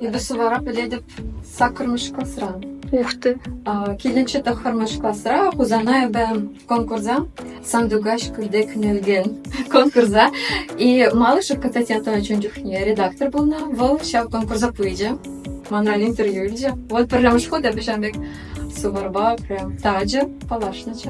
Эпӗ вара пӗлетӗп саккӑрмӗш класран. Ух ты. Килӗнчи тӑххӑрмӗш класра Хусанайӑпа конкурса Сандугач кӳлтек нелген конкурса и малышек кататятӑван чун чухне редактор пулнӑ. Вӑл ҫав конкурса пычӗ, манран интервью илчӗ. Вот пӗрремӗш хут эпӗ ҫавӑн пек суварпа прям тачӑ паллашнӑччӗ.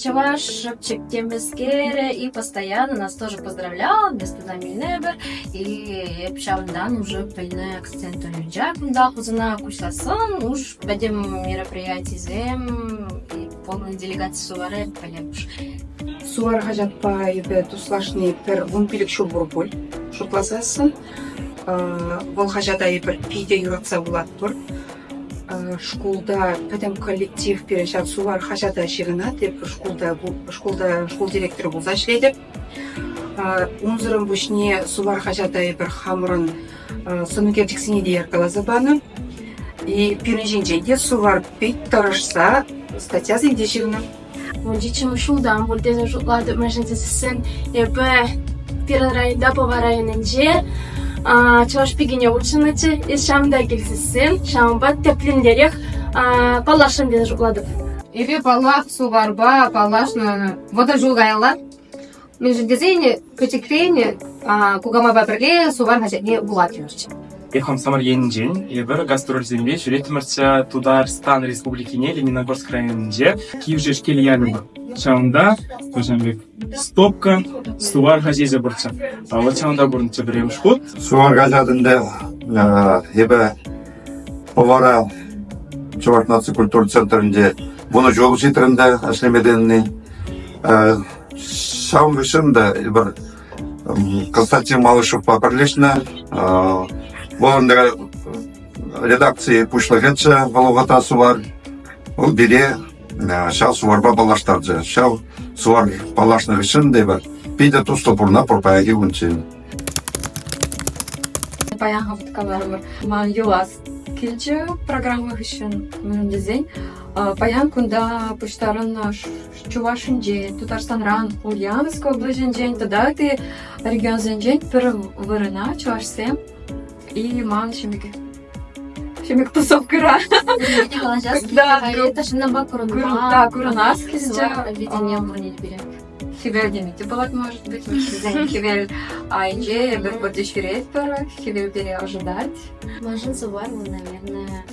Чӑваш шӑпчӑк темлескере и постоянно нас тоже поздравлял, без туда минебер. И эп ҫавӑнтан уже пӗлнӗ акцент уйӑнча кунта хусана куҫласын уж пӗтӗм мероприятисем и полный делегаци сувары пӗлепш. Сувар хаҫатпа эпӗ туслашни пӗр вун пилӗк ҫул пур пуль шутласассӑн. Вӑл хаҫата эпир питӗ юратса вулатпӑр. Шкулта пӗтӗм коллектив пирӗн ҫав Сувар хаҫата ҫырӑнать. Эп шкулта, шкулта шкул директорӗ пулса ӗҫлетӗп. Унсӑрӑн пуҫне Сувар хаҫата эпир хамӑрӑн сӑн ӳкерчӗксене те яркаласа панӑ. И пирӗн ҫинчен те Сувар пит тӑрӑшса статьясем те ҫырнӑ. Мунчиччӗмӗш ҫултан пуль тесе шутлатӑп, мӗншӗн тесен эпӗ пирӗн районта Пӑва районӗнче чӑваш пикине хутшӑннӑччӗ. Эс ҫам та килсессен ҫавӑнпа тӗплӗнрех паллашрӑм тесе шутлатӑп. Эпир, паллах, Суварпа паллашнӑ вӑтӑр ҫул каялла. Мӗншӗн тесен пӗчӗкрен кукамайпа пӗрле Сувар хаҫатне вулаттӑмӑрччӗ. Эп хамсамӑр енӗнчен эпир гастрольсемпе ҫӳретмӗрччӗ Тутарстан Республикине Лениногорск районӗнче кивҫеш кил янӑ. Ҫавӑнта пӗчӗн пек стопка сувар хаҫичӗ пурччӗ. А вот ҫавӑнта курнӑччӗ пӗрремӗш хут. Сувар хаҫатӑн데 эпӗ Пӑвара Чӑваш наци культура центрӗнче вунӑ ҫул ҫитрӗм те ӗҫлеме тенни. Ҫав хыҫҫӑн та эпир Константин Малышевпа пӗрлешнӗ. Вӑл ӗнтӗ редакци пуҫлӑхӗччӗ вӑл Сувар. Вӑл пире ҫав суварпа паллаштарчӗ. Ҫав сувар паллашнӑ хыҫҫӑн эпир питӗ туслӑ пурӑна пур паянхи кунччен. Паянхи каларӑмӑр ман юлас килчӗ программа хыҫҫӑн мӗн тесен паян кунта пуҫтарӑннӑ Чувашинчен, Тутарстанран, Ульяновск облаҫӗнчен тата ытти регионсенчен пӗр вырӑна чӑвашсем и ман ҫимӗк ҫимӗк тусовкӑра. Пирӗн калаҫас килте ҫыннампа курӑнма. Да, курӑнас килте. Видение вырӑнне пире. Хӗвел деме те пулать, может быть. Хӗвел айнче пӗр хӗвел пере ожидать. Машин сувар, наверное,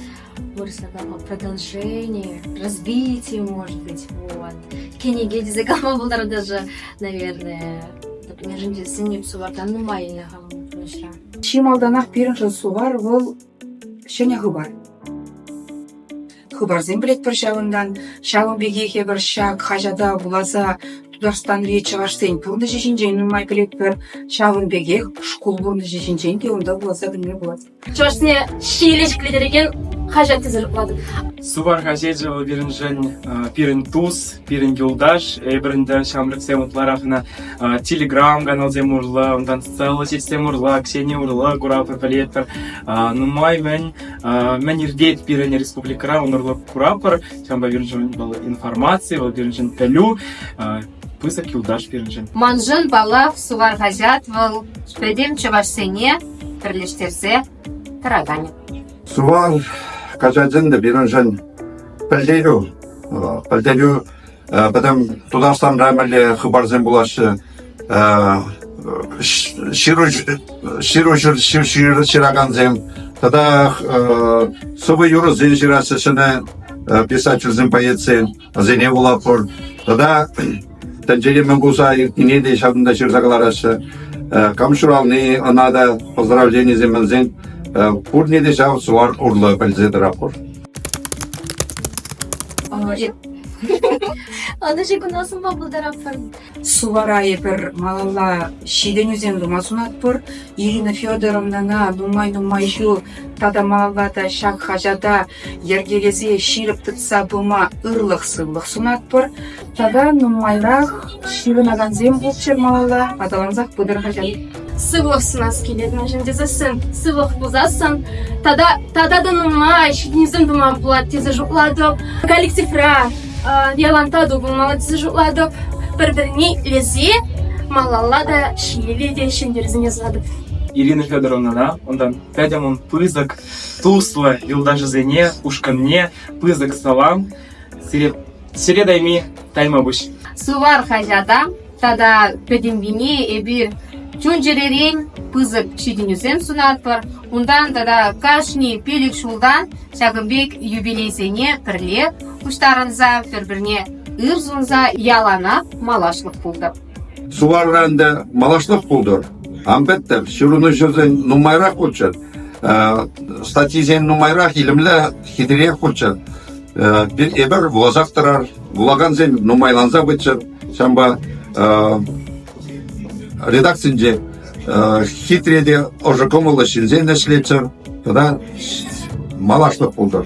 Больше такого продолжения, развития, может быть. Вот. Книги тесе кама булдар даже, наверное, межінші сенеп сувардан нумайына хавынышра. Чи малданах пирӗншӗн сувар вӑл ҫӗнӗ хыпар. Хыпарсем пӗлетпӗр ҫавӑнтан. Ҫавӑн пекех эпӗр ҫак хаҫата вуласа Тутарстанри чӑвашсен пурнӑҫӗ ҫинчен нумай пӗлетпӗр. Ҫавӑн пекех шкул пурнӑҫӗ ҫинчен те унта вуласа пӗлме пулать. чӑвашсене ҫийле ҫӗклеттерекен хаҫат тесе шутлатӑп. Сувар хаҫечӗ вӑл пирӗншӗн пирӗн тус, пирӗн юлташ. Эпир ӗнтӗ ҫамрӑксем ытларах ӑна телеграм каналсем урлӑ, унтан социаллӑ сетьсем урлӑ, Ксения урлӑ куравпа пӗлетпӗр. Нумай мӗн, мӗн иртет пирӗн республикӑра, унӑрлӑ куравпӑр. Ҫавӑнпа пирӗншӗн вӑл информаци, вӑл пирӗншӗн пӗлӳ. пысӑк юлташ пирӗншӗн. Маншӑн, паллах, Сувар хаҫат вӑл пӗтӗм чӑвашсене пӗрлештерсе тӑракан. Сувар хаҫачӗн те пирӗншӗн пӗлтерӳ. Пӗлтерӳ пӗтӗм Тутарстанра мӗнле хыпарсем пулаҫҫӗ, ҫыру ҫыракансем тата сӑвӑ юрӑсем ҫыраҫҫӗ ҫӗнӗ писательсем, поэтсем. вӗсене вулатпӑр. Тата тӗнчене мӗн кулса иртнине те ҫакӑнта ҫырса кӑлараҫҫӗ. Кам ҫурални, ӑна та поздравленисем мӗнсен пурне те ҫав сувар урлӑ пӗлсе тӑратпӑр. Анӑҫи куна сунма пултаратпӑр. Сувара эпир малалла ҫитӗнӳсем тума сунатпӑр. Ирина Федоровнӑна нумай-нумай ҫул тата малалла та ҫак хаҫата йӗркелесе ҫирӗп тытса пыма ырлӑх-сывлӑх сунатпӑр. Тата нумайрах ҫырӑнакансем пулччӑр малалла, аталансах пытӑр хаҫат. сывлӑх сунас килет, мӗншӗн тесессӗн сывлӑх пулсассӑн тата тата та нумай ҫитӗнӳсем тума пулать тесе шутлатӑп. Коллективра Виолантаду пулмалла тесе шутлатӑп. Пӗр-пӗрне илесе малалла та ҫиеле те ҫӗнтерсен ясатӑп. Ирина Федоровнӑна, унтан Пятямӑн пысӑк туслӑ юлташӗсене, ушкӑнне пысӑк салам. Сире, сире тайми таймапуҫ. Сувар хаҫата тата пӗтӗмпине эпир чун-чӗререн пысӑк ҫитӗнӳсем сунатпӑр. Унтан тата кашни пилӗк ҫултан ҫакӑн пек юбилейсене пӗрле пуҫтарӑнса, пӗр-пӗрне ыр сунса яланах малашлӑх пултӑр. Суварран та малашлӑх пултӑр. Ан пӗттӗр, ҫырӑнуҫӑсен нумайрах хутчӑр, статйисен нумайрах, илемлӗ, хитрех хутчӑр. эпир вуласах тӑрар. Вулакансем нумайланса пыччӑр. Ҫавӑнпа редакцинче хитре те ӑшӑ кӑмӑллӑ ҫынсем ӗҫлеччӗр тата малашлӑх пултӑр.